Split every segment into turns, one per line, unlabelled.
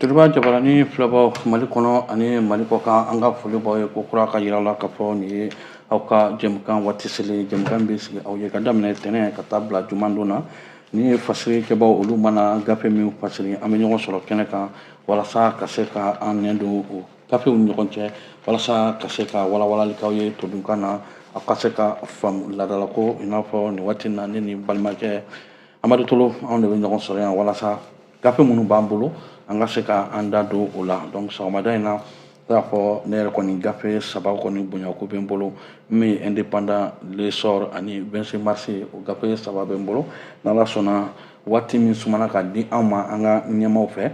Jeliba jabarani filɛbaw mali kɔnɔ ani mali kɔkan an ka foli b'aw ye ko kura k'a jira aw la k'a fɔ nin ye aw ka jɛmukan waati selen jɛmukan bɛ sigi aw ye ka daminɛ tɛnɛn ka taa bila jumadon na ni ye fasirikɛbaw olu mana gafe min fasiri an bɛ ɲɔgɔn sɔrɔ kɛnɛ kan walasa ka se ka an nɛn don o gafew ni ɲɔgɔn cɛ walasa ka se ka walawalali k'aw ye todunkan na aw ka se k'a faamu laadalako i n'a fɔ nin waati na ne ni balimakɛ amadu tolo anw de bɛ ɲɔgɔn sɔrɔ yan walasa gafe minnu b'an bolo an ka se ka an da don o la donc sɔgɔmada in na k'a fɔ ne yɛrɛ kɔni gafe saba kɔni bonyako bɛ n bolo min ye indépendant l'essor ani 26 mars o gafe saba bɛ n bolo n'ala sɔnna waati min sumana k'a di an ma an ka ɲɛmaaw fɛ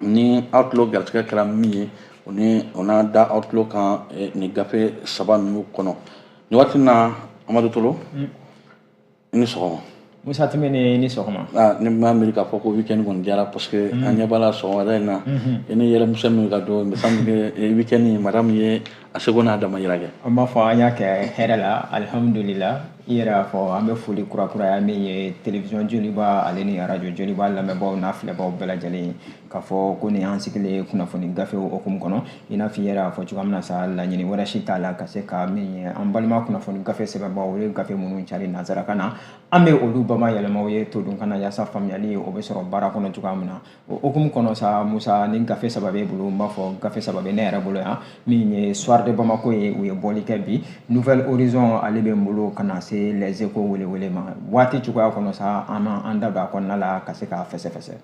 ni aw tulo garisɛgɛ kɛra min ye o ni o n'a da aw tulo kan nin gafe saba ninnu kɔnɔ nin waati na amadu tolo mm. i ni sɔgɔma musa timbine
i ni sɔgɔma ah, ne m'a miiri
k'a fɔ ko weekend kɔni diyara parce que mm. an ɲɛ b'a la sɔgɔmada in na mm-hmm. i ni yɛlɛmisɛn min ka don me semble que eh, weekend in madame ye a seko n'a damayira kɛ an b'a fɔ an y'a
kɛ hɛrɛ la alhamdulila i yɛrɛ y'a fɔ an bɛ foli kurakuraya min ye télévision joliba ale ni radio joliba lamɛnbaaw n'a filɛbaaw bɛɛ lajɛlen k'a fɔ ko nin y'an sigilen ye kunnafoni gafew hukumu kɔnɔ i n'a fɔ i yɛrɛ y'a fɔ cogoya min na sa laɲini wɛrɛ si t'a la ka se ka min ye an balima kunnafoni gafe sɛbɛnbaaw olu ye gafe minnu cari nanzarakan na an bɛ olu bamayɛlɛma aw ye todunkan na yaasa faamuyali o bɛ sɔrɔ baara kɔnɔ cogoya min na o hukumu kɔnɔ sa musa ni gafe saba b'e bolo n b'a fɔ gafe saba bɛ ne yɛrɛ bolo yan min ye soir de bamako ye u ye bɔli kɛ bi nouvel horizon ale bɛ n bolo ka na se les échos welewele ma waati cogoya kɔnɔ sa an n'an da don a kɔnɔna la ka se k'a fɛsɛfɛsɛ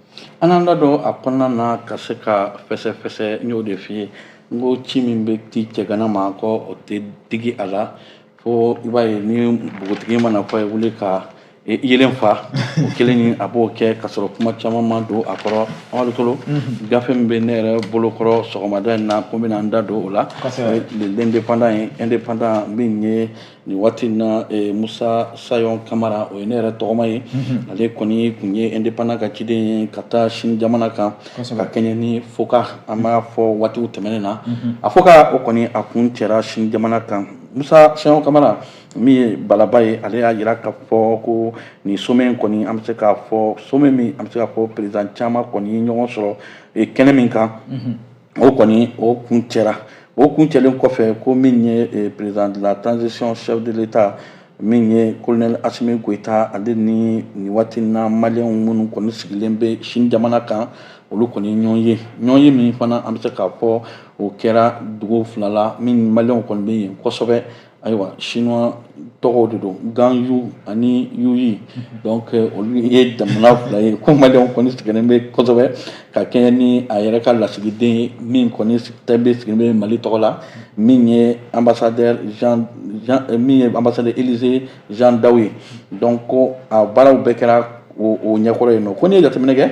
an n'an da
don a kɔnɔna na ka se k'a fɛsɛfɛsɛ n y'o de f'i ye n ko ci min bɛ di cɛgana ma ko o tɛ digi a la fo i b'a ye ni npogotigi man'a fɔ a ye wuli ka yeelen faa o kelen ni a b'o kɛ ka sɔrɔ kuma caman ma don a kɔrɔ amadu tolo mhm. gafe min bɛ ne yɛrɛ bolo kɔrɔ sɔgɔmada in na ko n bɛna n da don o la o ye l'indépendant ye indépendant min ye nin waati in na eh, musa sayon kamara o ye ne yɛrɛ tɔgɔma ye mhm. ale kɔni tun ye indépendant ka ciden ye ka taa sini jamana kan ka kɛɲɛ ni focac an b'a fɔ waatiw tɛmɛnen na mhm. a focac o kɔni a kuncɛra sini jamana kan musa sayon kamara min ye balaba ye ale y'a yira k'a fɔ ko nin sommet in kɔni an bɛ se k'a fɔ sommet min an bɛ se k'a fɔ président caman kɔni ye ɲɔgɔn sɔrɔ eh, kɛnɛ min kan mhm. o kɔni o kuncɛra o kuncɛlen kɔfɛ ko min ye eh, président de la transition chef de l'état min ye colonel asimi goyita ale ni nin waati na maliyɛnw minnu kɔni sigilen bɛ sini jamana kan olu kɔni ɲɔgɔn ye ɲɔgɔn ye min fana an bɛ se k'a fɔ o kɛra dugu fila la min maliyɛnw kɔni bɛ yen kosɛbɛ ayiwa chinois tɔgɔw de don gan yu ani yuyi donc euh, olu ye jamana fila ye ko maliyɛnw kɔni sigilen bɛ kosɛbɛ ka kɛɲɛ ni a yɛrɛ ka lasigiden ye min kɔni tɛ bɛ sigilen bɛ mali tɔgɔ la min ye ambassadeur jean jean euh, min ye ambassadeur élisée jean dao ye donc ko a baaraw bɛɛ kɛra o o ɲɛkɔrɔ yen nɔ ko n'i ye jateminɛ kɛ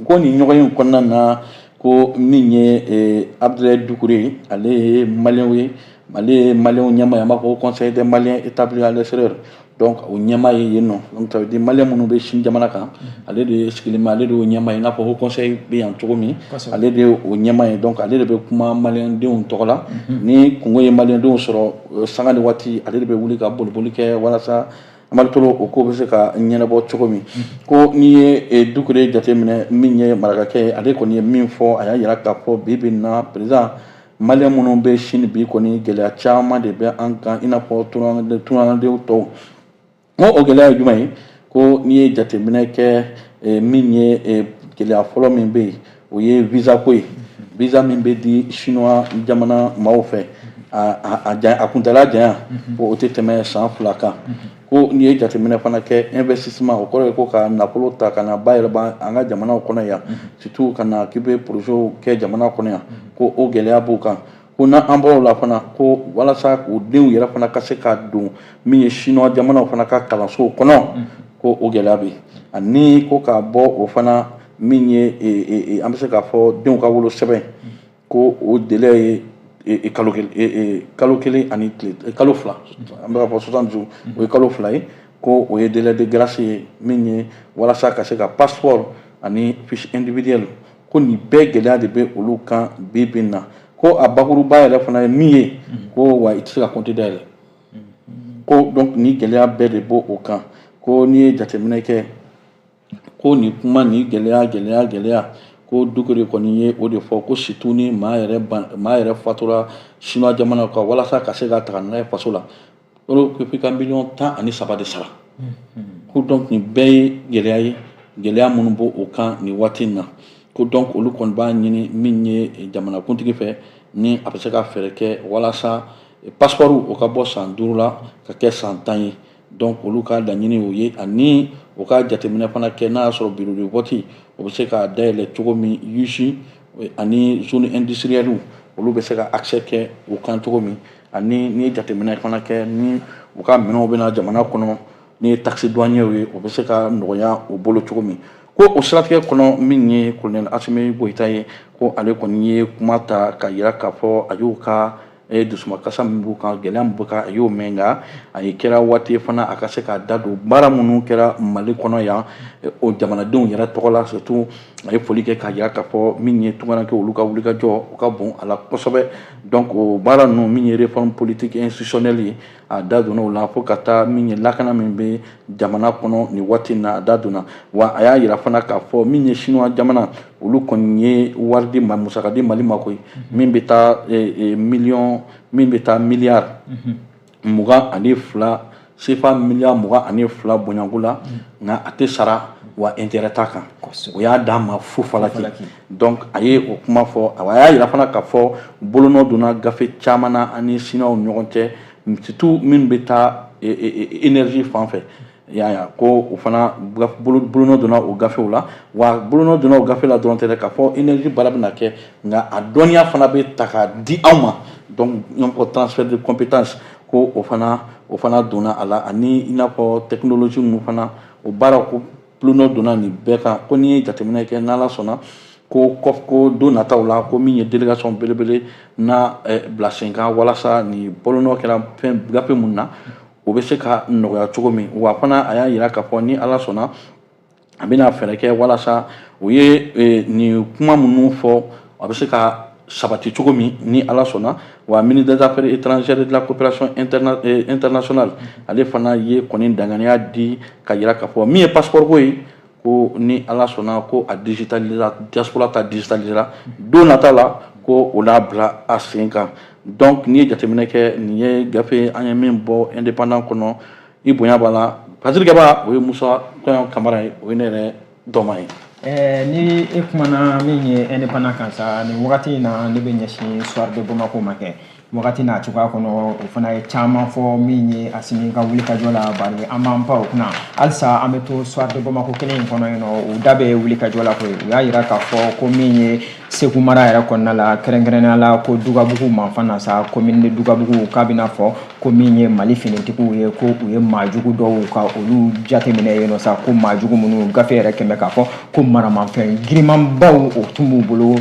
Ko nin ɲɔgɔnye in kɔnɔna na ko min ye abdoulaye doucouré ale ye maliyɛnw ye ale ye maliyɛnw ɲɛmaa ye an b'a fɔ conseil des maliens établis à l'extérieur donc o ɲɛmaa ye yen nɔ donc ça veut dire maliyɛn minnu bɛ sini jamana kan ale de sigilen bɛ ale de y'o ɲɛmaa ye i n'a fɔ haut conseil bɛ yan cogo min ale de ye o ɲɛmaa ye donc ale de bɛ kuma malidenw tɔgɔ la ni kunko ye malidenw sɔrɔ sanga ni waati ale de bɛ wuli ka boliboli kɛ walasa Mari to o ko bɛ se ka ɲɛnabɔ cogo min ko n'i ye doucouré jateminɛ min ye marakakɛ ye ale kɔni ye min fɔ a y'a jira k'a fɔ bi bi in na président maliyɛn minnu bɛ sini bi kɔni gɛlɛya caman de bɛ an kan i n'a fɔ tungadenw tɔw o gɛlɛya ye jumɛn ye ko n'i ye jateminɛ kɛ min ye gɛlɛya fɔlɔ min bɛ yen o ye visa ko ye visa min bɛ di chinois jamana maaw fɛ a a kuntala janya ko o tɛ tɛmɛ san fila kan ko n'i ye jateminɛ fana kɛ investissement o kɔrɔ ye ko ka nafolo ta ka na bayɛlɛma an ka jamanaw kɔnɔ yan surtout ka na k'i bɛ projets kɛ jamana kɔnɔ yan ko o gɛlɛya b'u kan ko n'an bɔr'o la fana ko walasa k'u denw yɛrɛ fana ka se ka don min ye chinois jamanaw fana ka kalansow kɔnɔ mm. ko o gɛlɛya bɛ ani ko ka bɔ o fana min ye e, e, e, an bɛ se k'a fɔ denw ka wolo sɛbɛn mm. ko o délai ye kalo kalo kelen ani tile kalo fila mm. an bɛ ka fɔ soixante jours o ye kalo fila ye ko o ye délai de grâce ye min ye walasa ka se ka passeport ani fiche individuelle ko nin bɛɛ gɛlɛya de bɛ olu kan bi bi in na ko a bakuruba yɛrɛ fana ye min ye ko wa i tɛ se ka compte dayɛlɛ ko donc nin gɛlɛya bɛɛ de b'o o kan ko n'i ye jateminɛ kɛ ko nin kuma ni gɛlɛya gɛlɛya gɛlɛya ko dukure kɔni ye o de fɔ ko surtout ni maa yɛrɛ maa yɛrɛ fatura siniwa jamana kan walasa ka se ka taga n'a ye faso la olu ko f'i ka miliyɔn tan ani saba de sara ko donc nin bɛɛ ye gɛlɛya ye gɛlɛya minnu b'o o kan nin waati in na ko donc olu kɔni b'a ɲini min ye jamanakuntigi fɛ ni a bɛ se ka fɛɛrɛ kɛ walasa passeports o ka bɔ san duuru la ka kɛ san tan ye donc olu ka laɲini o ye ani o ka jateminɛ fana kɛ n'a y'a sɔrɔ bureau de vote o bɛ se ka dayɛlɛ cogo min usines ani zones industrielles olu bɛ se ka accès kɛ o kan cogo min ani n'i ye jateminɛ fana kɛ ni u ka minɛnw bɛna jamana kɔnɔ n'i ye taxe douanière ye o bɛ se ka nɔgɔya u bolo cogo min ko o siratigɛ kɔnɔ min ye kolonɛli asimi goyita ye ko ale kɔni ye kuma ta ka yira k'a fɔ a y'u ka eh, dusumakasa min b'u kan gɛlɛya min b'u kan a y'o mɛn nka a ye kɛra waati ye fana a ka se k'a da don baara minnu kɛra mali kɔnɔ yan eh, o jamanadenw yɛrɛ tɔgɔ la surtout a ye foli kɛ k'a yira k'a fɔ min ye tungaranke olu ka wulikajɔ o ka bon a la kosɛbɛ Donc o baara ninnu min ye réforme politique institutionnelle ye a da donna o la fo ka taa min ye lakana min bɛ jamana kɔnɔ nin waati in na a da donna wa a y'a yira fana k'a fɔ min ye siniwa jamana olu kɔni ye wari di musaka di mali ma koyi min bɛ taa miliy min bɛ taa miliyari mugan ani fila sefa miliyari mugan ani fila bonya ko la nka a tɛ sara wa intérêt t'a kan o y'a d'a ma fu falaki donc a ye o kuma fɔ a y'a yira fana k'a fɔ bolonɔ donna gafe caman na an ni siniwaw ni ɲɔgɔn cɛ surtout minnu bɛ taa énergie fan fɛ y'a ko o fana bolonɔ donna o gafew la wa bolonɔ donna o gafe la dɔrɔn tɛ k'a fɔ énergie baara bɛna kɛ nka a dɔnniya fana bɛ ta k'a di anw ma donc transfert de compétence ko o fana o fana donna a la ani i n'a fɔ technologie ninnu fana o baara ko bolonɔ donna nin bɛɛ kan ko n'i ye jateminɛ kɛ n'ala sɔnna ko kɔ ko don nataw la ko min ye délégation belebele na bila sen kan walasa nin bolonɔ kɛra fɛn gafe minnu na o bɛ se ka nɔgɔya cogo min wa fana a y'a yira k'a fɔ ni ala sɔnna a bɛna fɛɛrɛ kɛ walasa u ye e, nin kuma minnu fɔ a bɛ se ka sabati cogo min ni ala sɔnna wa ministre des affaires étrangères de la coopération interna e, internationale ale fana ye kɔni danganiya di k'a yira k'a fɔ min ye passeport ko ye ko ni ala sɔnna ko a digitalira diaspora ta digitalisera don nata la ko o n'a bila a sen kan donc n'i ye jateminɛ kɛ nin ye gafe an ye min bɔ indépendant kɔnɔ i bonya b'a la pasiri kɛba o ye musa sayɔn kamara ye o ye ne yɛrɛ tɔgɔma ye Eh, ni e
kumana min ye indépendant kan sa nin wagati in na ne bɛ ɲɛsin soir de bamako ma kɛ wagati n'a cogoya kɔnɔ o fana ye caman fɔ min ye Asimi ka wulikajɔ la bari an b'an pan o kunna halisa an bɛ to soir de Bamako kelen in kɔnɔ yen nɔ u da bɛ wulikajɔ la koyi u y'a yira k'a fɔ ko min ye Segu mara yɛrɛ kɔnɔna la kɛrɛnkɛrɛnnenya la ko Dugabugu manfan na sa commune de Dugabugu k'a bɛna fɔ ko min ye Mali finitigiw ye ko u ye maa jugu dɔw ka olu jateminɛ yen nɔ sa ko maa jugu minnu gafe yɛrɛ kɛmɛ k'a fɔ ko maramafɛn girimanbaw o tun b'u bolo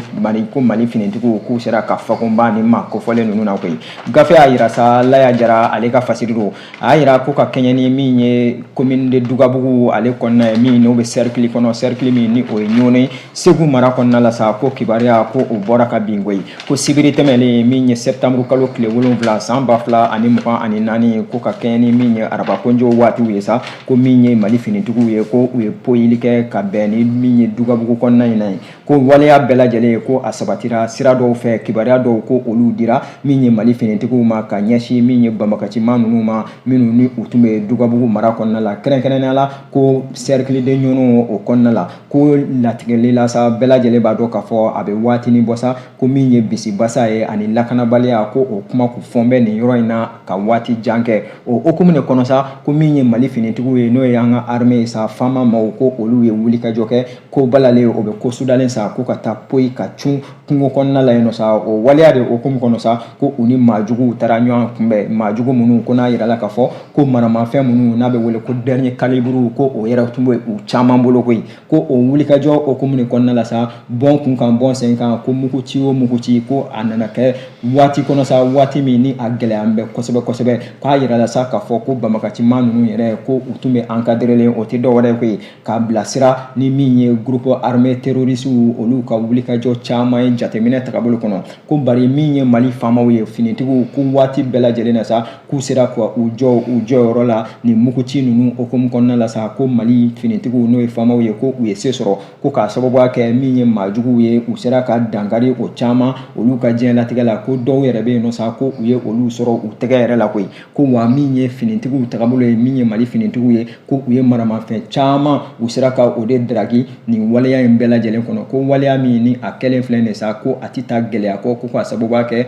ko mali finitigiw k'u sera ka fakunba ni maa kofɔlen ninnu na koyi gafe y'a yira sa laya jara ale ka fasiri don a y'a yira ko ka kɛɲɛ ni min ye komini de dugabugu ale kɔnɔna ye min n'o bɛ sɛrikili kɔnɔ sɛrikili min ni o ye ɲɔnɔ segu mara kɔnɔna la sa ko kibaruya ko o bɔra kabini koyi ko sibiri tɛmɛlen min ye sɛbtanburu kalo tile wolonwula san ba fila ani mugan ani naani ko ka kɛɲɛ ni min ye araba kojɔ waatiw ye sa ko min ye mali finitigiw ye ko u ye poyili kɛ ka bɛn ni min ye dugabugu kɔnɔna in na ye ko waleya bɛɛ lajɛlen ye ko a sabatira sira dɔw fɛ kibaruya dɔw ko olu dira min ye mali finitigiw ma ka ɲɛsin min ye banbagaciman ninnu ma minnu ni u tun bɛ dugabugu mara kɔnɔna la kɛrɛnkɛrɛnnenya la ko sɛrikili de ɲɔnɔ o kɔnɔna la ko latigɛli la sa bɛɛ lajɛlen b'a dɔn k'a fɔ a bɛ waatinin bɔ sa ko min ye bisibasa ye ani lakanabaliya ko o kuma k'u fɔn bɛ nin yɔrɔ in na ka waati jan kɛ o hukumu de kɔnɔ sa ko min ye mali finitigiw ye n'o ye an ka arme ye sa faama maaw ko olu ye wulikajɔ kɛ ko balalen o bɛ ko sudalen sa ko ka taa poyi ka cun kungo kɔnɔna la yen nɔ sa o waleya de hukumu kɔnɔ sa ko u ni maajuguw taara ɲɔgɔn kunbɛn maajugu minnu ko n'a yirala k'a fɔ ko maramafɛn minnu n'a bɛ wele ko dɛriniye kaliburu ko o yɛrɛ tun bɛ u caman bolo koyi ko o wulikajɔ hukumu de kɔnɔna la sa bɔn kun kan bɔn sen kan ko muguci o muguci ko a nana kɛ waati kɔnɔ sa waati min ni a gɛlɛyan bɛ kosɛbɛ kosɛbɛ k'a yirala sa k'a fɔ ko banbagaciman ninnu yɛrɛ ko u tun bɛ ankaderelen o tɛ dɔwɛrɛ ko ye k'a bilasira ni min ye gurupu arme terorisiw olu ka wulikajɔ caman ye jateminɛ tagabolo kɔnɔ ko bari min ye mali faamaw ye finitigiw ko waati bɛɛ lajɛlen na sa k'u sera ka u jɔ u jɔyɔrɔ la nin muguci ninnu hukumu kɔnɔna la sa ko mali finitigiw n'o ye faamaw ye ko u ye se sɔrɔ ko k'a sababuya kɛ min ye maajuguw ye u sera ka dankari o caman olu ka diɲɛlatigɛ la ko dɔw yɛrɛ bɛ yen nɔ sa ko u ye olu sɔrɔ u tɛgɛ yɛrɛ la koyi ko wa min ye finitigiw tagabolo ye min ye mali finitigiw ye ko u ye maramafɛn caman u sera ka o de daraki nin waleya in bɛɛ lajɛlen kɔnɔ ko waleya min ni a kɛlen filɛ nin sa ko a tɛ taa gɛlɛya kɔ ko k'a sababuya kɛ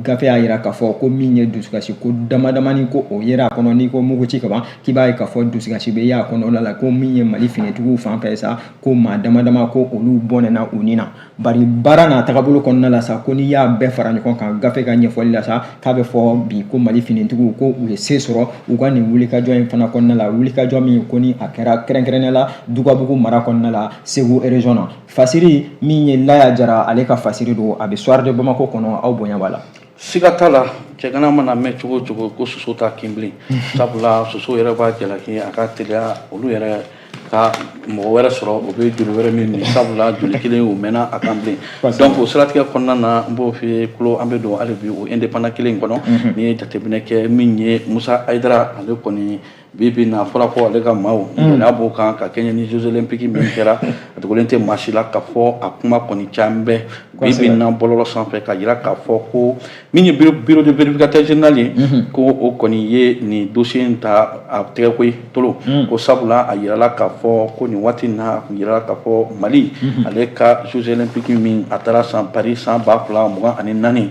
gafe y'a yira k'a fɔ ko min ye dusukasi ko dama damani ko o yera a kɔnɔ n'i ko muguci ka ban k'i b'a ye k'a fɔ dusukasi bɛ y'a kɔnɔna la ko min ye mali finitigiw fan fɛ sa ko maa dama dama ko olu bɔnɛna u ni na bari baara n'a tagabolo kɔnɔna la sa ko n'i y'a bɛɛ fara ɲɔgɔn kan gafe ka ɲɛfɔli la sa k'a bɛ fɔ bi ko mali finitigiw ko u ye se sɔrɔ u ka nin wulikajɔ in fana kɔnɔna la wulikajɔ min ko ni a kɛra kɛrɛnkɛrɛnnenya la dugabugu mara kɔnɔna la segu erezɔn na Fasiri min ye laya jara ale ka fasiri don a bɛ Soir de Bamako kɔnɔ aw bonya b'a la. Siga t'a
la cɛgana mana mɛn cogo o cogo ko soso t'a kin bilen sabula soso yɛrɛ b'a jalaki a ka teliya olu yɛrɛ ka mɔgɔ wɛrɛ sɔrɔ o bɛ joli wɛrɛ min nin sabula joli kelen o mɛnna a kan bilen donc o siratigɛ kɔnɔna na n b'o f'i kulo an bɛ don hali bi o indépendant kelen in kɔnɔ n'i ye jateminɛ kɛ min ye Musa Hayidara ale kɔni bi bi na fɔra ko ale ka maaw gɛlɛya b'o kan ka kɛɲɛ ni jeux olympiques min kɛra a dogolen tɛ maa si la k'a fɔ a kuma kɔni caman bɛ bi bi na bɔlɔlɔ sanfɛ k'a yira k'a fɔ ko min ye bureau de vérificateur général ye ko o kɔni ye nin dossier in ta a tɛgɛ koyi tolo ko sabula a yirala k'a fɔ ko nin waati in na a kun yirala k'a fɔ mali ale ka jeux olympiques min a taara san paris san ba fila mugan ani naani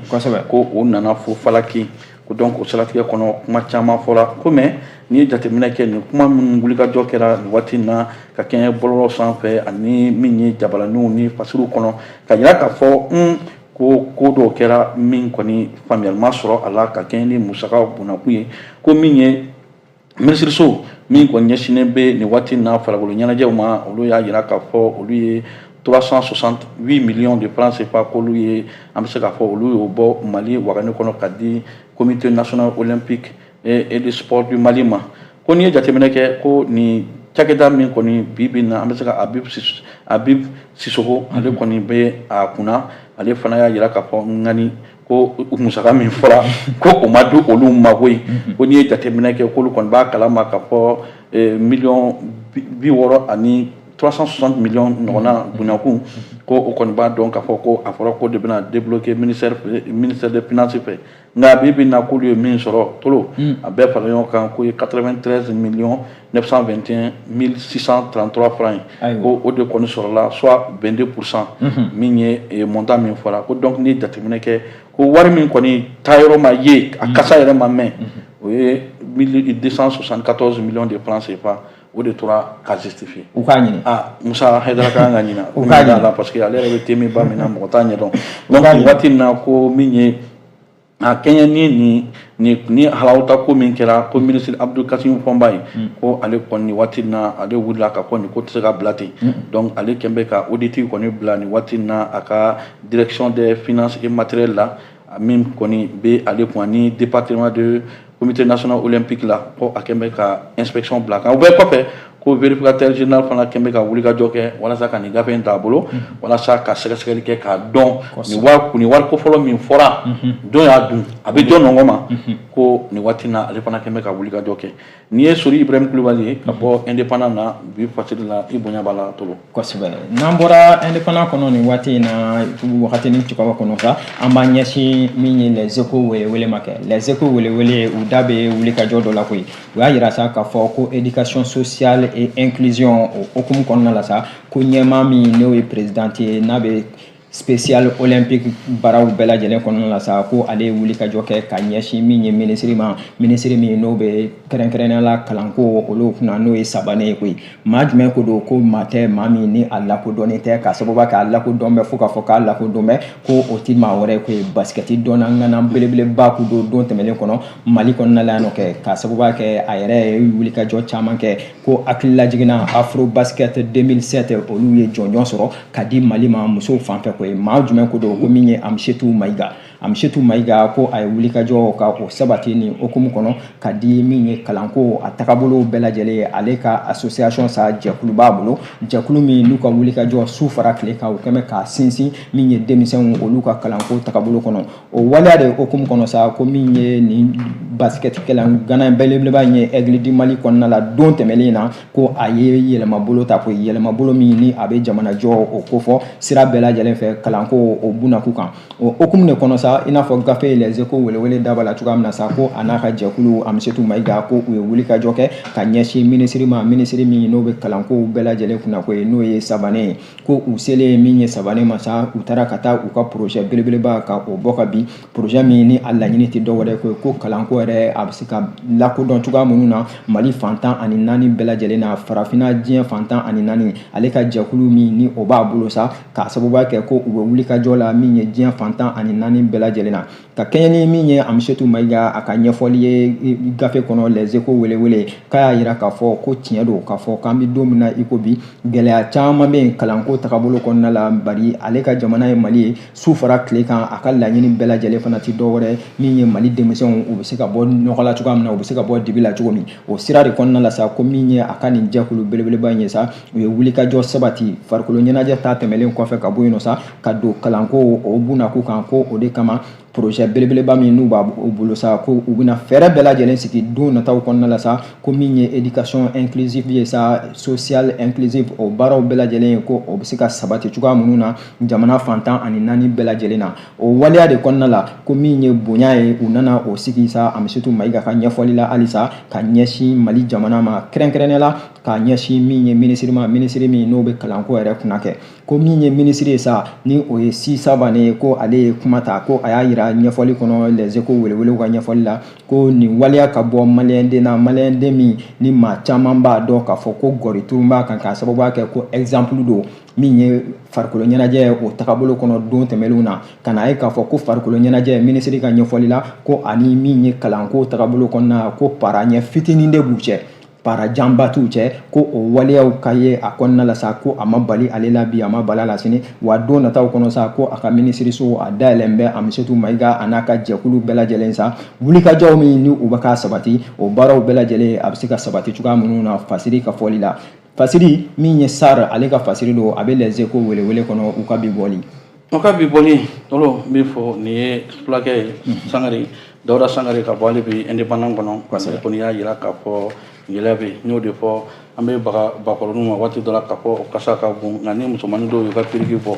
ko o nana fo falaki ko donc o siratigɛ kɔnɔ kuma caman fɔra ko mais n'i ye jateminɛ kɛ nin kuma minnu wulikajɔ kɛra nin waati in na ka kɛɲɛ bɔlɔlɔ sanfɛ ani min ye jabalaniw ni fasiriw kɔnɔ k'a yira k'a fɔ ko ko dɔw kɛra min kɔni faamuyali ma sɔrɔ a la ka kɛɲɛ ni musakaw bonnakun ye ko min ye minisiriso min kɔni ɲɛsinnen bɛ nin waati in na farikolo ɲɛnajɛw ma olu y'a yira k'a fɔ olu ye 368 millions de francs CFA k'olu ye an bɛ se k'a fɔ olu y'o bɔ mali wagani kɔnɔ ka di comité national olympique et de sport du mali ma ko n'i ye jateminɛ kɛ ko nin cakɛda min kɔni bi bi na an bɛ se ka habib habib sisoko ale kɔni bɛ a kunna ale fana y'a yira k'a fɔ ŋani ko musaka min fɔra ko o ma di olu ma koyi mhm. ko n'i ye jateminɛ kɛ k'olu kɔni b'a kalama k'a fɔ eh, miliyɔn bi wɔɔrɔ ani 360 miliyɔn ɲɔgɔnna mhm. bonyakun mhm. ko o kɔni b'a dɔn k'a fɔ ko a fɔra k'o de bɛna débloquer ministère ministère des finances fɛ nka bi bi in na k'olu ye min sɔrɔ tolo a bɛɛ fara ɲɔgɔn kan k'o ye 93 miliyɔn 921.633 francs ye ko o de kɔni sɔrɔla soit 22 pourcent mhm. min ye eh, montant min fɔra ko donc n'i ye jateminɛ kɛ ko wari min kɔni taayɔrɔ ma ye a mhm. kasa yɛrɛ ma mɛn mhm. o ye 274 millions de francs CFA o de tora ka justifier u k'a ɲini
ah Musa Hayidara ka
kan ka ɲina u k'a ɲina parce que ale yɛrɛ bɛ tɛmɛn ba min na mɔgɔ t'a ɲɛdɔn donc waati in na ko min ye a kɛɲɛ ni nin nin ni halawuta ko min kɛra ko minisiri Abdul Kasimu Fɔnba ye ko ale kɔni nin waati in na ale wulila k'a fɔ nin ko tɛ se ka bila ten donc ale kɛn bɛ ka audit kɔni bila nin waati in na a ka direction des finances et matériel la min kɔni bɛ ale kun ani département de comité national olympique la ko a kɛn bɛ ka inspection bila kan o bɛɛ kɔfɛ ko vérificateur général fana kɛn bɛ ka wulikajɔ kɛ walasa ka nin gafe in ta a bolo walasa ka sɛgɛsɛgɛli kɛ k'a dɔn nin wari nin wari ko fɔlɔ min fɔra jɔn y'a dun a bɛ jɔn nɔgɔ ma ko nin waati na ale fana kɛn bɛ ka wulikajɔ kɛ nin ye sori ibrahim kulubali ye ka bɔ indépendant na bi fasiri la i bonya b'a la tolo kosɛbɛ n'an bɔra
indépendant kɔnɔ nin waati in na wagati ni cogoya kɔnɔ sa an b'an ɲɛsin min ye les échos welewele ma kɛ les échos welewele u da bɛ wulikajɔ dɔ la koyi u y'a yira sa k'a fɔ ko éducation sociale et inclusion o hukumu kɔnɔna la sa ko ɲɛmaa min n'o ye présidente ye n'a bɛ spécial olympique baaraw bɛɛ lajɛlen kɔnɔna la sa ko ale ye wulikajɔ kɛ ka ɲɛsin min ye minisiri ma minisiri min n'o bɛ kɛrɛnkɛrɛnnenya la kalanko olu kunna n'o ye sabane ye koyi maa jumɛn ko don ko maa tɛ maa min ni a lakodɔnnen tɛ k'a sababu kɛ a lakodɔn bɛ fo k'a fɔ k'a lakodɔn bɛ ko o tɛ maa wɛrɛ ye koyi basikɛti dɔnna ŋana belebeleba kun don don tɛmɛnen kɔnɔ mali kɔnɔna la yan nɔ kɛ k'a sababu kɛ a yɛrɛ ye wulikajɔ caman kɛ ko hakililajigin na afro basket 2007 olu ye jɔnjɔn sɔrɔ ka di mali ma musow fanfɛ koyi maa jumɛn ko don ko min ye amisetu mayiga amisetu mayiga ko a ye wulikajɔ ka o sabati nin hokumu kɔnɔ ka di min ye kalanko a tagabolow bɛɛ lajɛlen ye ale ka association sa jɛkulu b'a bolo jɛkulu min n'u ka wulikajɔ su fara tile kan o kɛmɛ k'a sinsin min ye denmisɛnw olu ka kalanko tagabolo kɔnɔ o waleya de hokumu kɔnɔ sa ko min ye nin basikɛtikɛla ŋana belebeleba in ye aigle du mali kɔnɔna la don tɛmɛlen na ko a ye yɛlɛmabolo ta ko yɛlɛmabolo min ni a bɛ jamanajɔ o kofɔ sira bɛɛ lajɛlen fɛ kalanko o bunda kun kan o hokumu de kɔnɔ sa i n'a fɔ gafe les échos welewele da b'a la cogoya min na sa ko a n'a ka jɛkulu amisetu mayiga ko u ye wulikajɔ kɛ ka ɲɛsin minisiri ma minisiri min n'o bɛ kalankow bɛɛ lajɛlen kunna koyi n'o ye sabane ye ko u selen ye min ye sabane ma sa u taara ka taa u ka porozɛ belebeleba ka o bɔ ka bin porozɛ min ni a laɲini tɛ dɔwɛrɛ koyi ko kalanko yɛrɛ a bɛ se ka lakodɔn cogoya minnu na mali fan tan ani naani bɛɛ lajɛlen na farafinna diɲɛ fan tan ani naani ale ka jɛkulu min ni o b'a bolo sa k'a sababuya kɛ ko u bɛ wulikajɔ la min ye diɲɛ fan tan ani naani bɛɛ lajɛlen na ka kɛɲɛ ni min ye amisetu mayiga a ka ɲɛfɔli ye gafe kɔnɔ les échos welewele k'a y'a yira k'a fɔ ko tiɲɛ don k'a fɔ k'an be don min na i ko bi gɛlɛya caaman be yen kalanko tagabolo kɔnɔna la bari ale ka jamana ye mali ye su fara tile kan a ka laɲini bɛɛ lajɛlen fana tɛ dɔwɛrɛ min ye mali denmisɛnw u be se ka bɔ nɔgɔ la cogoya min na u be se ka bɔ dibi la cogo min o sira de kɔnɔna la sa ko min ye a ka nin jɛkulu belebeleba ye sa u ye wulikajɔ sabati farikolo ɲɛnajɛ ta tɛmɛlen kɔfɛ ka bɔ yen nɔ sa ka don kalanko o bunda kun kan ko o de kama projet belebeleba min n'u b'a bolo sa ko u bɛna fɛɛrɛ bɛɛ lajɛlen sigi don nataw kɔnɔna la sa ko min ye éducation inclusive ye sa social inclusive o baaraw bɛɛ lajɛlen ye ko o bɛ se ka sabati cogoya minnu na jamana fan tan ani naani bɛɛ lajɛlen na o waleya de kɔnɔna la ko min ye bonya ye u nana o sigi sa Amisetu Mayiga ka ɲɛfɔli la halisa ka ɲɛsin Mali jamana ma kɛrɛnkɛrɛnnenya la ka ɲɛsin min ye minisiri ma minisiri min n'o bɛ kalanko yɛrɛ kunna kɛ ko min ye minisiri ye sa ni o ye si sabane ye ko ale ye kuma ta ko a y'a yira ɲɛfɔli kɔnɔ les échos welewelew ka ɲɛfɔli la ko nin waleya ka bɔ maliyɛnden na maliyɛnden min ni maa caman b'a dɔn k'a fɔ ko gɔri tun b'a kan k'a sababuya kɛ ko ɛgizanpulu don min ye farikolo ɲɛnajɛ ye o tagabolo kɔnɔ don tɛmɛlenw na ka n'a ye k'a fɔ ko farikolo ɲɛnajɛ minisiri ka ɲɛfɔli la ko ani min ye kalanko tagabolo kɔnɔna ko para ɲɛ fitinin de b'u cɛ para janba t'u cɛ ko o waleyaw ka ye a kɔnɔna la sa ko a ma bali ale la bi a ma bala la sini wa don nataw kɔnɔ sa ko a ka minisiriso a dayɛlɛn bɛ amisɛtu mayiga a n'a ka jɛkulu bɛɛ lajɛlen sa wulikajɔw min ni u bɛ ka sabati o baaraw bɛɛ lajɛlen a bɛ se ka sabati cogoya minnu na fasiri ka fɔli la fasiri min ye sar ale ka fasiri don a bɛ Les Échos welewele kɔnɔ u ka bi bɔli An ka bi
bɔli tɔlo n bɛ fɔ nin ye fulakɛ ye sangare dawuda sangare ka bɔ ale bɛ indépendant kɔnɔ parce que kɔni y'a jira k'a fɔ gɛlɛya bɛ yen n y'o de fɔ an bɛ baga bakɔrɔninw ma waati dɔ la k'a fɔ o kasa ka bon nka ni musomanin dɔw y'u ka piriki bɔ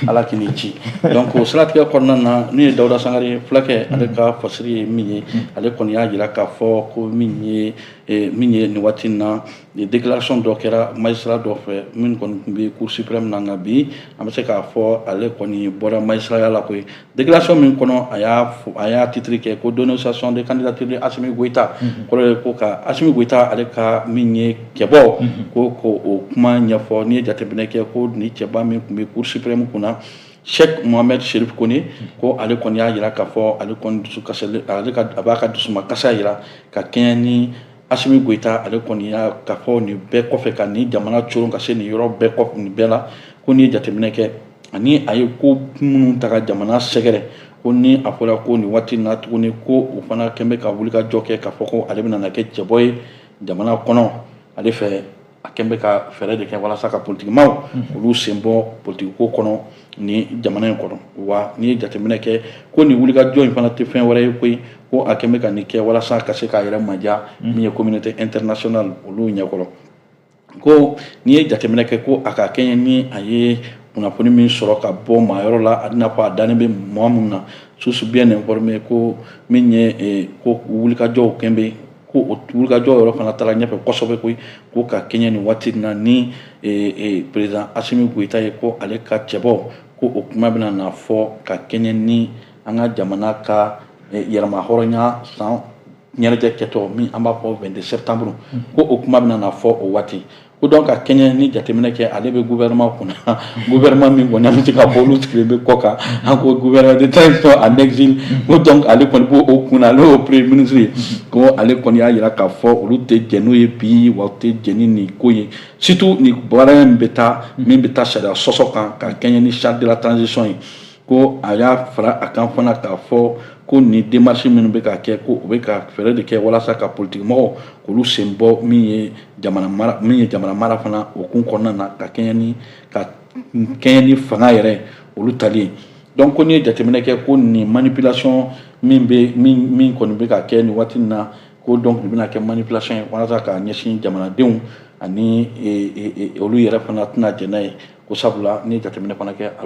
ala k'i ni ci donc o siratigɛ kɔnɔna na min ye dawuda sangare ye fulakɛ ale ka fasiri ye min ye ale kɔni y'a jira k'a fɔ ko min ye eh, min ye nin waati in na Ni déclaration dɔ kɛra magistrat dɔ fɛ min kɔni tun bɛ cour suprême na nka bi an bɛ se k'a fɔ ale kɔni bɔra magistraya la koyi déclaration min kɔnɔ a y'a a y'a titre kɛ ko dénonciation de candidature de Assimi Goïta kɔrɔ ye ko ka Assimi Goïta ale ka min ye cɛbɔ ko ko o kuma ɲɛfɔ n'i ye jateminɛ kɛ ko nin cɛba min tun bɛ cour suprême kunna Cheick Mohamed Chérif Koné ko ale kɔni y'a jira k'a fɔ ale kɔni dusu kasilen ale ka a b'a ka dusumakasi jira ka kɛɲɛ ni Assimi Goïta ale kɔni y'a k'a fɔ nin bɛɛ kɔfɛ ka nin jamana coron ka se nin yɔrɔ bɛɛ kɔ nin bɛɛ la ko n'i ye jateminɛ kɛ ani a ye ko minnu ta ka jamana sɛgɛrɛ ko ni a fɔra ko nin waati na tuguni ko u fana kɛn bɛ ka wulikajɔ kɛ k'a fɔ ko ale bɛna kɛ cɛbɔ ye jamana kɔnɔ ale fɛ a kɛlen bɛ ka fɛɛrɛ de kɛ walasa ka politikimaw mhm. olu sen bɔ politikiko kɔnɔ nin jamana in kɔnɔ wa n'i ye jateminɛ kɛ ko nin wulikajɔ in fana tɛ fɛn wɛrɛ ye koyi ko a kɛlen bɛ ka nin kɛ walasa ka se k'a yɛrɛ maja mhm. min ye communauté internationale olu ɲɛkɔrɔ ko n'i ye jateminɛ kɛ ko a ka kɛɲɛ ni a ye kunnafoni min sɔrɔ ka bɔ maa yɔrɔ la a b'i n'a fɔ a dannen bɛ maa minnu na source bien informée ko min ye eh, ko wulikajɔw kɛn bɛ ko o wulikajɔ yɔrɔ fana taara ɲɛfɛ kosɛbɛ koyi ko ka kɛɲɛ nin waati na ni président Assimi Goïta ye ko ale ka cɛbɔ ko o kuma bɛna na fɔ ka kɛɲɛ ni an ka jamana ka yɛrɛmahɔrɔnya san ɲɛnajɛ kɛtɔ min an b'a fɔ 22 septembre ko o kuma bɛna na fɔ o waati ko donc ka kɛɲɛ ni jateminɛ kɛ ale bɛ gouvernement kunna gouvernement min kɔni an bɛ se k'a fɔ olu sigilen bɛ kɔkan an ko gouvernement de transition en exil ko donc ale kɔni b'o o kunna ale y'o premier ministre ye ko ale kɔni y'a jira k'a fɔ olu tɛ jɛn n'o ye bi wa u tɛ jɛn ni nin ko ye surtout nin baara in bɛ taa min bɛ taa sariya sɔsɔ kan ka kɛɲɛ ni charte de la transition ye ko a y'a fara a kan fana k'a fɔ ko nin démarche minnu bɛ ka kɛ ko u bɛ ka fɛɛrɛ de kɛ walasa ka politikimɔgɔw k'olu sen bɔ min ye jamana mara min ye jamana mara fana o kun kɔnɔna na ka kɛɲɛ ni ka kɛɲɛ ni fanga yɛrɛ olu tali ye donc ko n'i ye jateminɛ kɛ ko nin manipulation min bɛ min min kɔni bɛ ka kɛ nin waati in na ko donc nin bɛna kɛ manipulation ye walasa ka ɲɛsin jamanadenw ani olu yɛrɛ fana tɛna jɛn n'a ye ko sabula n'i ye jateminɛ fana kɛ a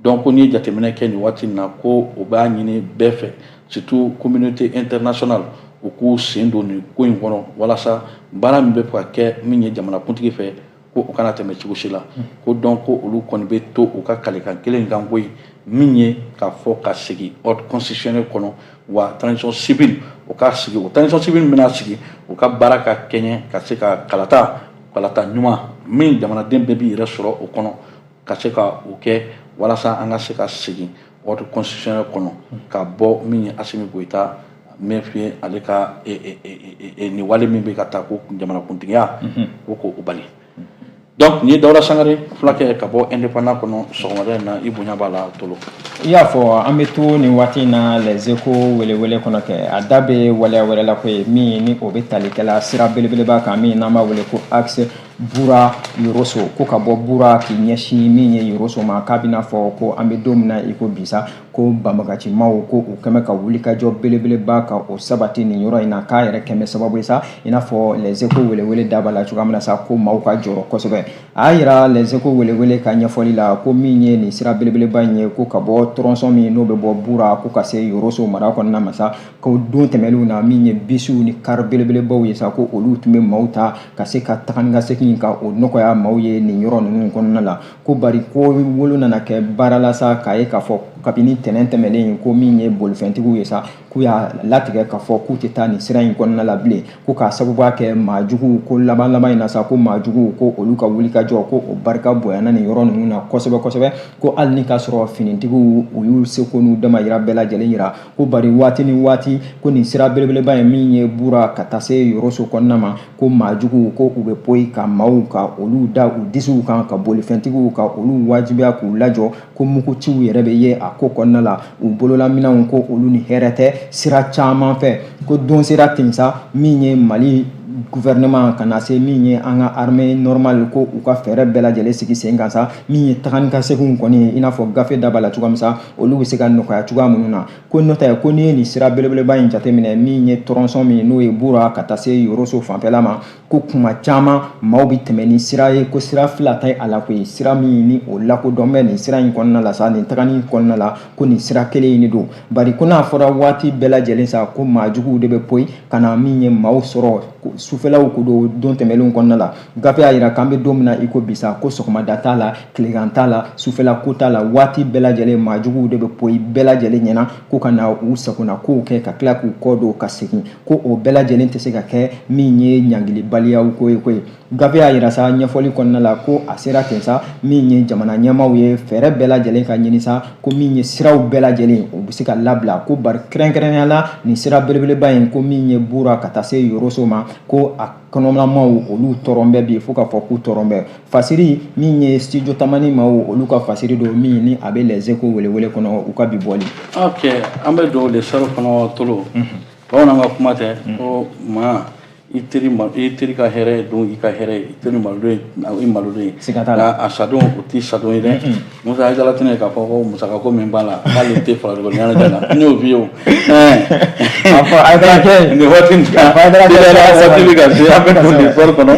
donc ko n'i ye jateminɛ kɛ nin waati in na ko u b'a ɲini bɛɛ fɛ surtout communauté internationale u k'u sen don nin ko in kɔnɔ walasa baara min bɛ ka kɛ min ye jamanakuntigi fɛ ko o kana tɛmɛ cogo si la ko donc ko olu kɔni bɛ to u ka kalikan kelen kan ko ye min ye k'a fɔ ka segin ordre constitutionnel kɔnɔ wa transition civile o ka sigi o transition civile min bɛna sigi o ka baara ka kɛɲɛ ka se ka kalata kalata ɲuman min jamanaden bɛɛ b'i yɛrɛ sɔrɔ o kɔnɔ ka se ka o kɛ walasa an ka se ka segin ordre constitutionnel kɔnɔ ka bɔ min ye Asimi Goyita min ye ale ka e, e, e, e, nin wale min bɛ ka taa ko jamanakuntigiya ko k'o bali donc nin ye Dawuda Sangare fulakɛ ka bɔ indépendant kɔnɔ sɔgɔmada in na i bonya b'a la Tolo i y'a
fɔ an bɛ to nin waati in na les échos welewele kɔnɔ kɛ a da bɛ waleya wɛrɛ la ko ye min ni o bɛ talikɛla sira belebeleba kan min n'an b'a wele ko axe bura yoroso ko ka bɔ bura k'i ɲɛsin min ye yoroso ma k'a b'i n'a fɔ ko an bɛ don min na i ko bi sa ko banbaganci maaw ko u kɛlen bɛ ka wulikajɔ belebeleba ka o sabati nin yɔrɔ in na k'a yɛrɛ kɛlen bɛ sababu ye sa i n'a fɔ les échos welewele da b'a la cogoya min na sa ko maaw ka jɔrɔ kosɛbɛ a y'a yira les échos welewele ka ɲɛfɔli la ko min ye nin sira belebeleba in ye ko ka bɔ tronçon min n'o bɛ bɔ bura ko ka se yoroso mara kɔnɔna ma sa ko don tɛmɛnenw na min ye bisiw ni kari belebelebaw ye sa ko olu tun bɛ maaw ta ka se ka taga ni ka segin ka o nɔgɔya maaw ye nin yɔrɔ ninnu kɔnɔna la ko bari ko wolo nana kɛ baara la sa k'a ye k'a fɔ kabini tɛnɛn tɛmɛnen ko min ye bolifɛntigiw ye sa k'u y'a latigɛ k'a fɔ k'u tɛ taa nin sira in kɔnɔna la bilen ko k'a sababuya kɛ maa juguw ko laban laban in na sa ko maa juguw ko olu ka wulikajɔ ko o barika bonyana nin yɔrɔ ninnu na kosɛbɛ kosɛbɛ ko hali ni k'a sɔrɔ finitigiw u y'u seko n'u damayira bɛɛ lajɛlen yira ko bari waati ni waati ko nin sira belebeleba ye min ye bura ka taa se yoroso kɔnɔna ma ko maa juguw ko u bɛ poyi ka maaw ka olu da u disiw kan ka bolifɛntigiw ka olu wajibiya k'u lajɔ ko muguciw yɛrɛ bɛ ye a ko kɔnɔna la u bololaminɛnw ko olu ni hɛrɛ tɛ sira caman fɛ ko don sera ten sa min ye mali gouvernement ka na se min ye an ka armée normale ko u ka fɛɛrɛ bɛɛ lajɛlen sigi sen kan sa min ye taga ni ka seginw kɔni ye i n'a fɔ gafe da b'a la cogoya min sa olu bɛ se ka nɔgɔya cogoya minnu na ko n'o tɛ ko n'i ye nin sira belebeleba in jateminɛ min ye tronçon min n'o ye bura ka taa se yɔrɔso fanfɛla ma ko kuma caman maaw bɛ tɛmɛ ni sira ye ko sira fila tɛ a la koyi sira min ni o lakodɔn bɛ nin sira in kɔnɔna la sa nin tagali in kɔnɔna la ko nin sira kelen in de don bari ko n'a fɔra waati bɛɛ lajɛlen sa ko maa juguw de bɛ poyi ka na min ye maaw sɔrɔ sufɛlaw ko don don tɛmɛnlenw kɔnɔna la gafe y'a jira k'an bɛ don min na i ko bisa ko sɔgɔmada t'a la tilegan t'a la sufɛla ko t'a la waati bɛɛ lajɛlen maa juguw de bɛ poyi bɛɛ lajɛlen ɲɛna ko ka na u sagona kow kɛ ka tila k'u kɔ don ka segin ko o bɛɛ lajɛlen tɛ se ka kɛ min ye ɲangilibaliyaw ko ye koyi gafe y'a jira sa ɲɛfɔli kɔnɔna la ko a sera ten sa min ye jamana ɲɛmaaw ye fɛɛrɛ bɛɛ lajɛlen ka ɲini sa ko min ye siraw bɛɛ lajɛlen u bɛ se ka labila ko bari kɛrɛnkɛrɛnnenya la nin sira belebeleba in ko min ye bura ka taa se yoroso ma ko a kɔnɔla maaw olu tɔɔrɔlen bɛ bi fo k'a fɔ k'u tɔɔrɔlen bɛ fasiri min ye studio tamani maaw olu ka fasiri don min ni a bɛ les échos welewele kɔnɔ u ka bi bɔli ok an
bɛ don l'Essor kɔnɔ tolo bamananw ka kuma tɛ ko maa i teri maa i teri ka hɛrɛ don i ka hɛrɛ ye i teri malodon ye i malodon ye siga t'a la a sadon o t'i sadon ye dɛ Musa ye dalatinɛ ye k'a fɔ ko musaka ko min b'a la k'ale tɛ farikolo ɲɛnajɛ la n y'o f'i ye o a fɔ a taara kɛ nin waati in kan a taara kɛ waati bɛ ka se an bɛ don l'Essor kɔnɔ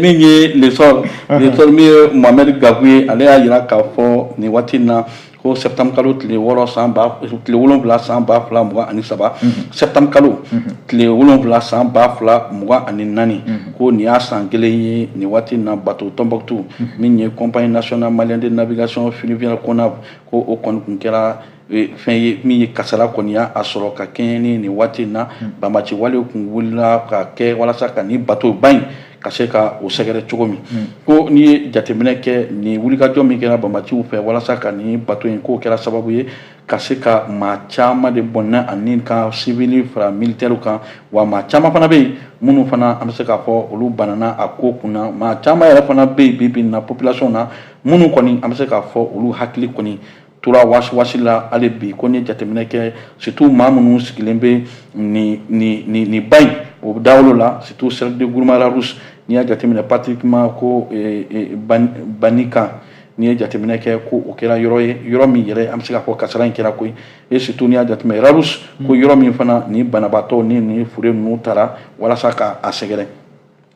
min ye l'Essor l'Essor min ye Mohamed Gakou ye ale y'a jira k'a fɔ nin waati in na ko septembre kalo tile wolonfila san ba fila mugan ani saba septembre kalo tile wolonfila san ba fila mugan ani naani ko nin y'a san kelen ye nin waati na bato Tombouctou min ye compagnie nationale malienne de navigation fluviale CONAV ko o kɔni kun kɛra fɛn ye min ye kasara kɔni y'a sɔrɔ ka kɛɲɛ ni nin waati in na banbaanci wale kun wulila ka kɛ walasa ka ni batoba in ka se ka o sɛgɛrɛ cogo min hmm. ko n'i ye jateminɛ kɛ nin wulikajɔ min kɛra banbaanciw fɛ walasa ka nin bato in k'o kɛra sababu ye ka se ka maa caman de bɔnna ani ka sivili fara militɛriw kan wa maa caman fana bɛ yen minnu fana an bɛ se k'a fɔ olu banana a ko kunna maa caman yɛrɛ fana bɛ yen bi bi in na population na minnu kɔni an bɛ se k'a fɔ olu hakili kɔni tora wasiwasi la hali bi ko n'i ye jateminɛ kɛ surtout maa minnu sigilen bɛ nin nin nin nin ba in o dawolo la surtout cercle de Gourma-Rharous n'i y'a jateminɛ pratiquement ko eh, eh, Banikane n'i ye jateminɛ kɛ ko o kɛra yɔrɔ ye yɔrɔ min yɛrɛ an bɛ se k'a fɔ kasara in kɛra koyi e surtout n'i y'a jateminɛ Rharous ko yɔrɔ min fana ni banabaatɔ ni ni fure ninnu taara walasa ka a sɛgɛrɛ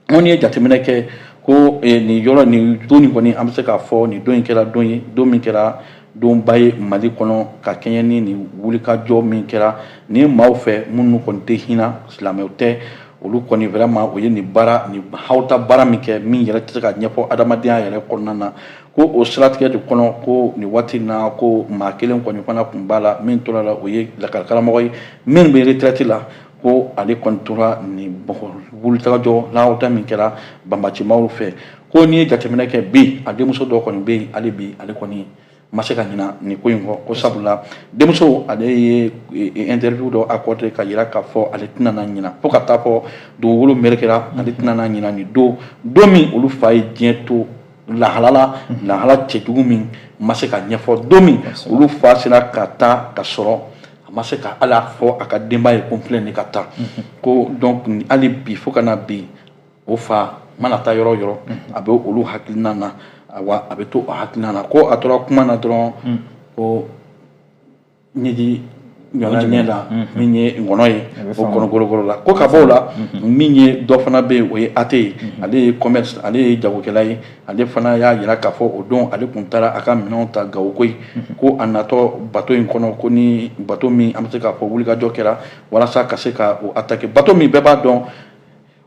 n'i ye jateminɛ kɛ ko eh, nin yɔrɔ nin don nin kɔni an bɛ se k'a fɔ nin don in kɛra don ye don min kɛra donba ye mali kɔnɔ ka kɛɲɛ ni nin wulikajɔ min kɛra nin maaw fɛ minnu kɔni tɛ hinɛ silamɛw tɛ olu kɔni vraiment o ye nin baara nin hawuta baara min kɛ min yɛrɛ tɛ se ka ɲɛfɔ adamadenya yɛrɛ kɔnɔna na ko o siratigɛ de kɔnɔ ko nin waati na ko maa kelen kɔni fana tun b'a la min tora la o ye lakɔlikaramɔgɔ ye min bɛ retraite la ko ale kɔni tora nin wulikajɔ lawata min kɛra banbacimaaw fɛ ko n'i ye jateminɛ kɛ bi a denmuso dɔ kɔni bɛ yen hali bi ale kɔni ma se ka ɲina nin ko in kɔ ko sabula denmuso ale ye e, e, interview dɔ accordé k'a yira k'a fɔ ale tɛna na ɲina fo ka taa fo dugukolo merekera ale tɛna na ɲina nin don don min olu fa ye diɲɛ to lahala la mhm. lahala cɛjugu min ma se ka ɲɛfɔ don min olu fa sera ka taa ka sɔrɔ a ma se ka hali a fɔ a ka denba ye ko n filɛ nin ka taa mhm. ko donc hali bi fo ka na bi o fa mana taa yɔrɔ yɔrɔ mhm. a bɛ olu hakilina na awa a bɛ to o hakilina na ko a tora kuma na dɔrɔn mhm. ko ɲɛji ɲɔna ɲɛ la min ye ngɔnɔ ye o kɔnɔgorogoro la ko ka bɔ o la min ye dɔ fana bɛ yen o ye ate ye ale ye commerce ale ye jagokɛla ye ale fana y'a jira k'a fɔ o don ale tun taara a ka minɛnw ta gawo koyi ko a natɔ bato in kɔnɔ ko ni bato min an bɛ se k'a fɔ wulikajɔ kɛra walasa ka se ka o atake bato min bɛɛ b'a dɔn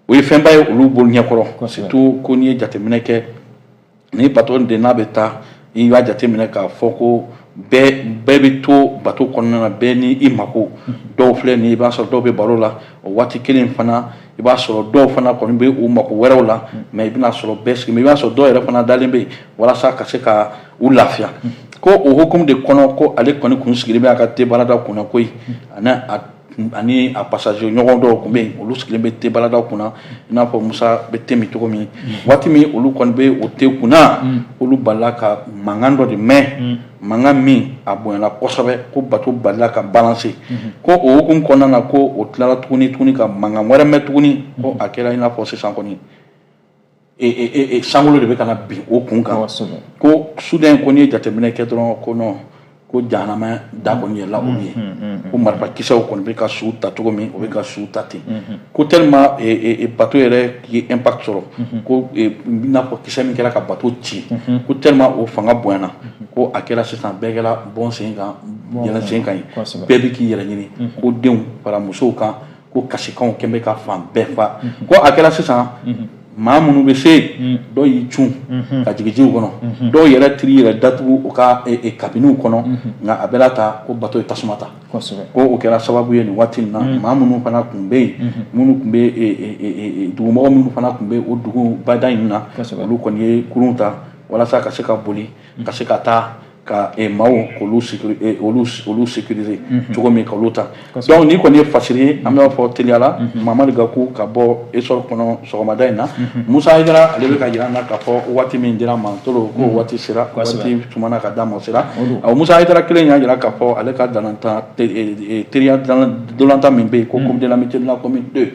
o ye fɛnba ye olu bolo ɲɛkɔrɔ surtout ko n'i ye jateminɛ kɛ ni bato de n'a bɛ taa i b'a jateminɛ k'a fɔ ko bɛɛ bɛ to bato kɔnɔna na bɛɛ ni i mako dɔw filɛ nin i b'a sɔrɔ dɔw bɛ baro la o waati kelen fana i b'a sɔrɔ dɔw fana kɔni bɛ u mako wɛrɛw la mais i bɛna a sɔrɔ bɛɛ sigi i b'a sɔrɔ dɔw yɛrɛ fana dalen bɛ yen walasa ka se ka u lafiya ko o hukumu de kɔnɔ ko ale kɔni kun sigilen bɛ a ka te barada kunna koyi a ani a passager ɲɔgɔn dɔw tun bɛ yen olu sigilen bɛ te baradaw kunna i n'a fɔ musa bɛ te min cogo min waati min olu kɔni bɛ o te kunna olu balila ka mankan dɔ de mɛn mankan min a bonyana kosɛbɛ ko bato balila ka balanse ko o hukumu kɔnɔna na ko o tilala tuguni tuguni ka mankan wɛrɛ mɛn tuguni ko a kɛra i n'a fɔ sisan kɔni sankolo de bɛ ka na bin o kun kan ko soudain ko n'i ye jateminɛ kɛ dɔrɔn ko non ko jahanama da kɔni yɛlɛla olu ye ko marifakisɛw kɔni bɛ ka su ta cogo min o bɛ ka su ta ten ko tellement bato yɛrɛ ye impact sɔrɔ ko i n'a fɔ kisɛ min kɛra ka bato ci ko tellement o fanga bonyana ko a kɛra sisan bɛɛ kɛra bɔ n sen kan yɛlɛn n sen kan ye bɛɛ bɛ k'i yɛrɛ ɲini ko denw fara musow kan ko kasikanw tun bɛ ka fan bɛɛ fa ko a kɛra sisan maa minnu bɛ se dɔw y'i cun ka jigin jiw kɔnɔ dɔw yɛrɛ tun y'i yɛrɛ datugu u ka kabiniw kɔnɔ nka a bɛɛ la ta ko bato ye tasuma ta ko o kɛra sababu ye nin waati in na maa minnu fana tun bɛ yen minnu tun bɛ dugumɔgɔ minnu fana tun bɛ o dugu bada in na olu kɔni ye kurun ta walasa ka se ka boli ka se ka taa ka eh, maaw k'olu eh, olu olu sécuriser mhm. cogo min ka olu ta donc nin kɔni ye fasiri ye an b'a fɔ teliya la mhm. mamadu gaku ka bɔ esɔr kɔnɔ sɔgɔmada in na mhm. musa hayidara ale bɛ ka jira an na k'a fɔ waati min dira ma tolo k'o waati sera waati tumana ka d'a ma o sera ɔ musa hayidara kelen y'a jira k'a fɔ ale ka ntolatan eh, teriya ntolatan min bɛ yen ko coupe de l'amitié de la commune deux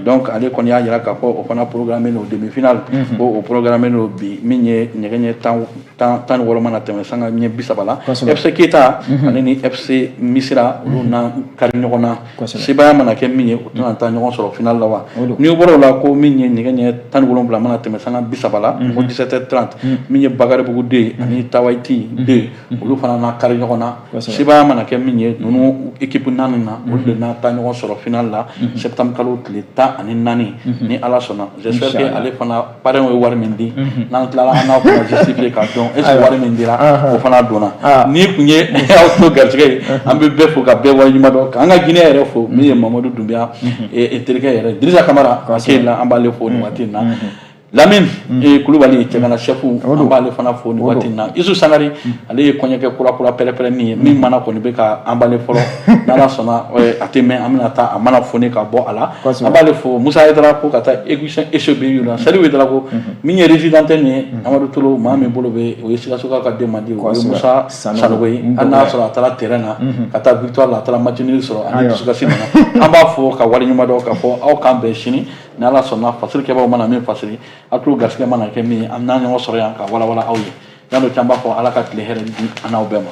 donc ale kɔni y'a jira k'a fɔ o fana programme don demi finale ko o programme don bi min ye nɛgɛ ɲɛ tan tan tan ni wɔɔrɔ mana tɛmɛ sanga ɲɛ bi saba la fc keyita mhm. ale ni fc misira olu mhm. na kari ɲɔgɔn na sebaya mana kɛ min ye o de na taa ɲɔgɔn sɔrɔ final la wa n'i bɔra o la ko min ye nɛgɛ ɲɛ tan ni wolonwula mana tɛmɛ sanga bi saba la ko 17 30 min ye bakaribugu den ye ani tawaiti den ye olu fana na kari ɲɔgɔn na sebaya mana kɛ min ye ninnu ekipu naani na olu de na taa ɲɔgɔn sɔrɔ final la septembre kalo tile tan ani naani ni ala sɔnna j'espère que ale fana parrain ye wari min di mhm. n'an tilala an n'a kuma justifier k'a dɔn est ce que wari min dira o fana donna ah. nin tun ye aw tulo garijɛgɛ ye an bɛ bɛɛ fo ka bɛɛ waleɲuman dɔn k'an ka Guinée yɛrɛ fo min ye mhm. Mamadu Dunbiya mhm. e, e terikɛ yɛrɛ Dirisa Kamara Keyila an b'ale fo nin waati in na Lamine e, Kulubali cɛgana chef an b'ale fana fo nin waati in na Isu Sangare ale ye kɔɲɔkɛ kura kura pɛrɛpɛrɛnni ye min mana kɔni bɛ ka an b'ale fɔlɔ n'ala sɔnna a tɛ mɛn an bɛna taa a mana foni ka bɔ a la an b'ale fo Musa Hayidara ko ka taa émission HBU la Salifu Hayidara ko min ye résident tɛ nin ye Amadu Tolo maa min bolo bɛ o ye Sikasokaw ka den mandi o ye Musa Sanogo ye hali n'a y'a sɔrɔ a taara terrain na ka taa victoire la a taara match nul sɔrɔ ani dusukasi nana an b'a fo k'a waleɲuman dɔn k'a fɔ aw k'an bɛn sini ni Ala sɔnna fasiri kɛbaaw mana min fasiri a tulo garisigɛ mana kɛ min ye an bɛna ɲɔgɔn sɔrɔ yan k'a walawala aw ye Yan'o cɛ an b'a fɔ ala ka tile hɛrɛ di an n'aw bɛɛ ma